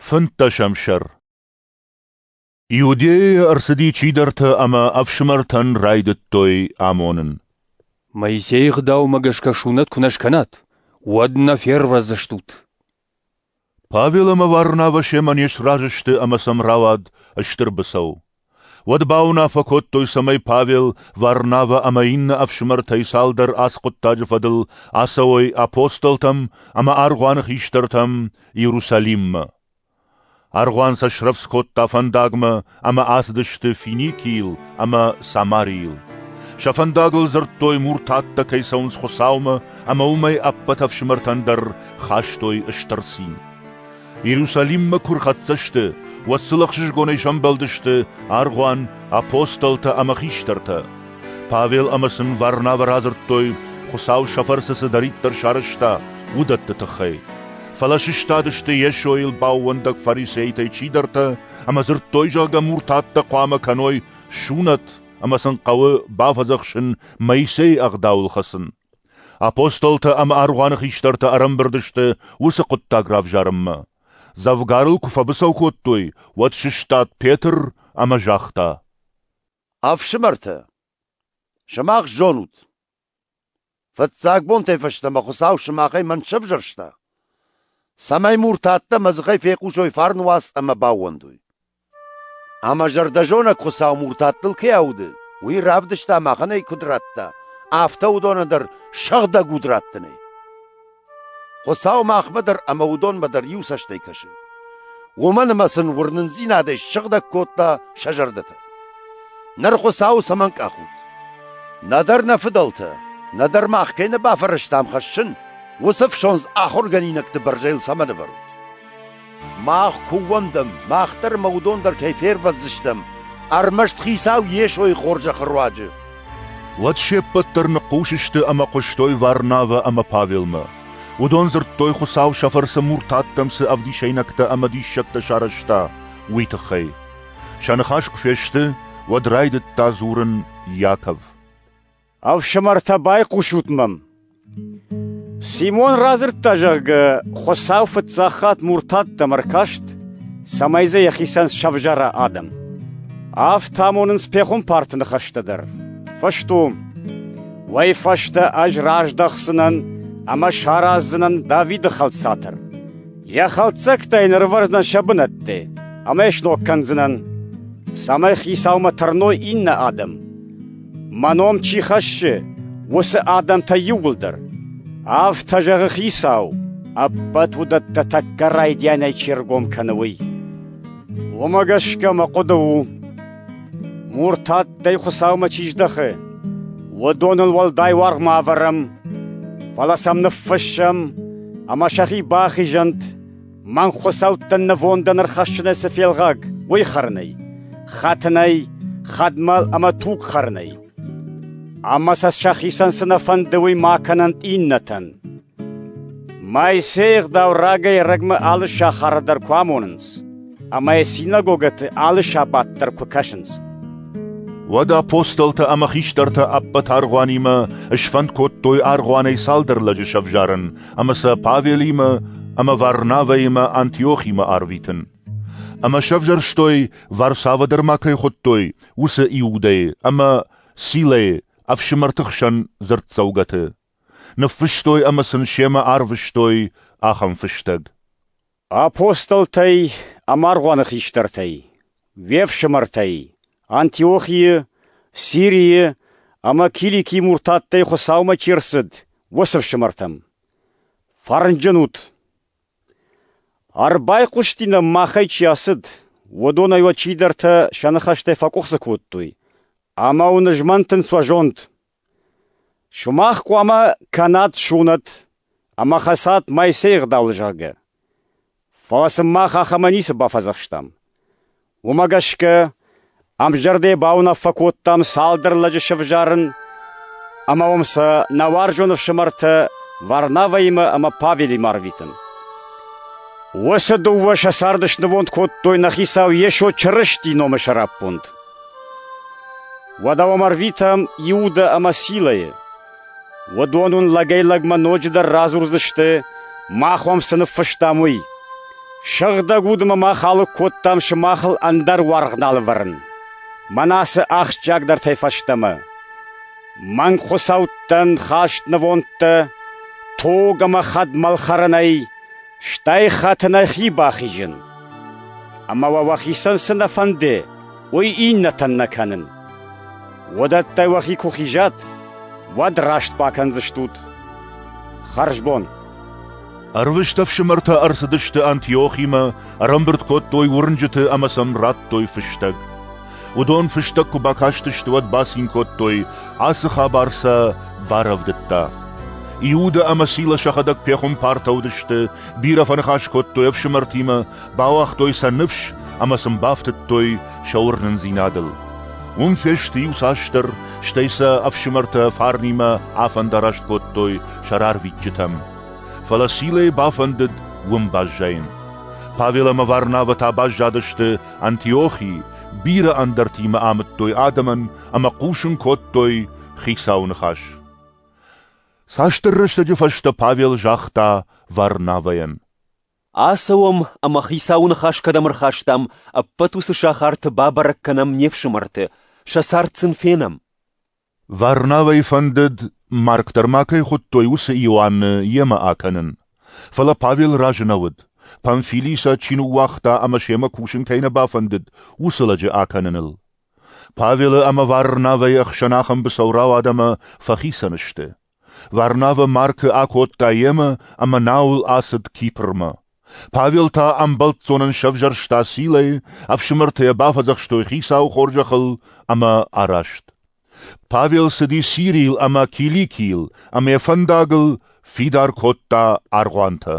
Фынддӕсӕм сӕр Иудейӕ ӕрцыди чидӕртӕ ӕмӕ ӕфсымӕртӕн райдыдтой амонын. Моисейы гъдаумӕ гӕсгӕ сунӕт куы нӕ скӕнат, уӕд нӕ фервӕздзыстут. Павел ӕмӕ Варнавӕ семӕ не сразы сты ӕмӕ сӕм рауад стыр быцӕу. Уӕд бауынаффӕ кодтой, цӕмӕй Павел, Варнавӕ ӕмӕ иннӕ ӕфсымӕртӕй цалдӕр ацы хъуыддаджы фӕдыл ацӕуой апостолтӕм ӕмӕ аргъуаны хистӕртӕм Иерусалиммӕ. Аргъуан сӕ срӕвдз кодта фӕндагмӕ ӕмӕ ацыдысты Финикийыл ӕмӕ Самарийыл. Сӕ фӕндагыл дзырдтой, муртаттӕ кӕй цӕуынц Хуыцаумӕ, ӕмӕ уымӕй ӕппӕт ӕфсымӕртӕн дӕр хастой стыр цин. Иерусалиммӕ куы рхӕццӕ сты, уӕд сыл ӕхсызгонӕй сӕмбӕлдысты аргъуан, апостолтӕ ӕмӕ хистӕртӕ. Павел ӕмӕ сын Варнавӕ радзырдтой, Хуыцау сӕ фӕрцы цыдӕриддӕр сарӕзта, уыдӕтты тыххӕй. Фӕлӕ сыстадысты Йесойыл баууӕндӕг фарисейтӕй чидӕртӕ ӕмӕ дзырдтой, зӕгъгӕ, муртаттӕ хъуамӕ кӕной сунӕт ӕмӕ сын хъӕуы бафӕдзӕхсын Моисейы ӕгъдауыл хӕцын. Апостолтӕ ӕмӕ аргъуаны хистӕртӕ ӕрӕмбырд сты уыцы хъуыддаг равзарынмӕ. Дзӕвгарыл куы фӕбыцӕу кодтой, уӕд сыстад Петр ӕмӕ загъта: «Ӕфсымӕртӕ, сымах зонут, фыццаг бонтӕй фӕстӕмӕ Хуыцау сымахӕй мӕн сӕвзӕрста, цӕмӕй муртӕ ӕддӕмӕ дзыхӕй фехъусой фарн уац ӕмӕ баууӕндой. Ӕмӕ зӕрдӕзонӕг Хуыцау муртаттыл кӕй ауды, уый равдыста, махӕн ӕй куыд радта, афтӕ уыдоны дӕр сыгъдӕг уд раттынӕй. Хуыцау махмӕ дӕр ӕмӕ уыдонмӕ дӕр иу цӕстӕй кӕсы. Уымӕн ӕмӕ сын уырнындзинадӕй сыгъдӕг кодта сӕ зӕрдӕтӕ. Ныр Хуыцауы цӕмӕн къахут? Нӕдӕр нӕ фыдӕлтӕ, нӕдӕр мах кӕй нӕ бафӕрӕзтам хӕссын, уыцы ӕфсондз ахуыргӕнинӕгты бӕрзӕйыл цӕмӕн ӕвӕрут? Мах куы ууӕндӕм, мах дӕр ӕмӕ уыдон дӕр кӕй фервӕздзыстӕм, ӕрмӕст Хицау Йесойы хорзӕхы руаджы. Уӕд се ппӕт дӕр ныхъхъус сты ӕмӕ хъуыстой Варнавӕ ӕмӕ Павелмӕ. Уыдон дзырдтой, Хуыцау сӕ фӕрцы муртаттӕм цы ӕвдисӕйнӕгтӕ ӕмӕ диссӕгтӕ сарӕзта, уый тыххӕй. Сӕ ныхас куы фесты, уӕд райдыдта дзурын Иаков. Ӕфсымӕртӕ, байхъусут мӕм. Симон радзырдта, зӕгъгӕ, Хуыцау фыццаг хатт муртаттӕм ӕркаст, цӕмӕй дзы йӕхицӕн сӕвзӕра адӕм. Афтӕ амонынц пехуымпарты ныхӕстӕ дӕр. Фыстуым. Уый фӕстӕ ӕз раздӕхдзынӕн ӕмӕ сараздзынӕн Давиды хӕлцатӕр. Йӕ хӕлддзӕгтӕй нырвӕрдзӕн сӕ бынӕтты, ӕмӕ сног кӕндзынӕн, цӕмӕй хицаумӕ тӕрной иннӕ адӕм. Мӕ ном чи хӕссы, уыцы адӕмтӕй иууылдӕр. Афтӕ зӕгъы Хицау, ӕппӕт уыдӕттӕ тӕккӕ райдианӕй чи ргом кӕны, уый. Уымӕ гӕсгӕ мӕ хъуыды у, муртаттӕй Хуыцаумӕ чи здӕхы, уыдоныл уӕлдай уаргъ ма ӕвӕрӕм, фӕлӕ сӕм ныффыссӕм ӕмӕ сӕхи бахизӕнт Мӕн хуыцӕуттӕн нывондӕн ӕрхӕссынӕй цы фелгъаг, уый хӕрынӕй, хӕтынӕй, хӕдмӕл ӕмӕ туг хӕрынӕй. Ӕмӕ сӕ сӕхицӕн цы нӕ фӕнды, уый ма кӕнӕнт иннӕтӕн. Моисейы ӕгъдау рагӕй-ӕрӕгмӕ алы сахары дӕр куы амонынц, ӕмӕ йӕ синагогӕты алы сабат дӕр куы кӕсынц. Уӕд апостолтӕ ӕмӕ хистӕртӕ ӕппӕт аргъуанимӕ сфӕнд кодтой аргъуанӕй цалдӕр лӕджы сӕвзарын ӕмӕ сӕ Павелимӕ ӕмӕ Варнавӕимӕ Антиохимӕ арвитын. Ӕмӕ сӕвзӕрстой, Варсавӕ дӕр ма кӕй хуыдтой, уыцы Иудӕйы ӕмӕ Силӕйы ӕфсымӕрты хсӕн дзырддзӕугӕты. Ныффыстой ӕмӕ сын семӕ арвыстой ахӕм фыстӕг. Апостолтӕй ӕмӕ аргъуаны хистӕртӕй, уе фсымӕртӕй, Антиохийы, Сирийы ӕмӕ Киликийы муртаттӕй Хуыцаумӕ чи рцыд, уыцы фсымӕртӕм. Фӕрнджын ут! Ӕрбайхъуыстинӕм, махӕй чи ацыд, уыдонӕй уӕ чидӕртӕ сӕ ныхӕстӕ фӕкъуыхцы кодтой, ӕмӕ уын змӕнтынц уӕ зонд. Сумах хъуамӕ кӕнат сунӕт ӕмӕ хӕцат Моисейы гъдауыл, зӕгъгӕ. Фӕлӕ сын мах ахӕмӕ ницы бафӕдзӕхстам. Уымӕ гӕсгӕ ӕмзӕрдӕйы бауынаффӕ кодтам цалдӕр лӕджы сӕвзӕрын ӕмӕ уым сӕ нӕ уарзон ӕфсымӕртӕ Варнавӕимӕ ӕмӕ Павелимӕ арвитын. Уыцы дыууӕ сӕ царды снывонд кодтой нӕ Хицау Йесо Чырысти номы сӕраппонд. Уӕдӕ уӕм ӕрвитӕм Иудӕ ӕмӕ Силӕйы. Уыдон уын лӕгӕй-лӕгмӕ ноджыдӕр радзурдзысты, мах уӕм цы ныффыстам, уый. Сыгъдӕг уд ӕмӕ мах алыг кодтам сымахыл ӕндӕр уаргъ нал ӕвӕрын. Мӕнӕ цы ахсджиагдӕртӕй фӕстӕмӕ. Мӕнг хуыцӕуттӕн хаст нывондтӕ, тог ӕмӕ хӕдмӕлхӕрӕнӕй, Стӕй хатт нӕхи бахизын, ӕмӕ уӕ уӕхицӕн цы нӕ фӕнды, уый иннӕтӕн нӕ кӕнын. Уыдӕттӕй уӕхи куы хизат, уӕд раст бакӕндзыстут. Хӕрзбон! Ӕрвыст ӕфсымӕртӕ ӕрцыдысты Антиохимӕ, ӕрӕмбырд кодтой уырнджыты ӕмӕ сӕм радтой фыстӕг. Уыдон фыстӕг куы бакастысты, уӕд бацин кодтой, ацы хабар сӕ барӕвдыдта. Иуда ӕмӕ Сила сӕхӕдӕг пехуымпартӕ уыдысты, бирӕ фӕныхас кодтой ӕфсымӕртимӕ, бауагътой сӕ ныфс ӕмӕ сын бафтыдтой сӕ уырнындзинадыл. Уым фесты иуцасдӕр, стӕй сӕ ӕфсымӕртӕ фарнимӕ афӕндараст кодтой сӕ рарвитджытӕм. Фӕлӕ Силӕйы бафӕндыд уым баззайын. Павел ӕмӕ Варнавӕ та баззадысты Антиохи бирӕ ӕндӕртимӕ амыдтой адӕмӕн ӕмӕ хъусын кодтой Хицауы ныхас. Цасдӕр рӕстӕджы фӕстӕ Павел загъта Варнавӕйӕн. Ацӕуӕм ӕмӕ Хицауы ныхас кӕдӕм ӕрхастам, ӕппӕт уыцы сахарты бабӕрӕг кӕнӕм не фсымӕрты, сӕ цард сын фенӕм. Варнавӕй фӕндыд, марг дӕр ма кӕй хуыдтой, уыцы Иоанны йемӕ акӕнын. Фӕлӕ Павел разы нӕ уыд. Памфилий сӕ чи ныууагъта ӕмӕ семӕ кусын кӕй нӕ бафӕндыд, уыцы лӕджы акӕныныл. Павелы ӕмӕ Варнавӕйы ӕхсӕн ахӕм быцӕу рауад ӕмӕ фӕхицӕн сты. Варнавӕ Маркы акодта йемӕ ӕмӕ науыл ацыд Кипрмӕ. Павел та ӕмбӕлццонӕн сӕвзӕрста силӕй, ӕфсымӕртӕ йӕ бафӕдзӕхстой хицауы хорзӕхыл ӕмӕ араст. Павел цыди Сирийыл ӕмӕ Киликийыл, ӕмӕ йӕ фӕндагыл фидар кодта аргъуантӕ.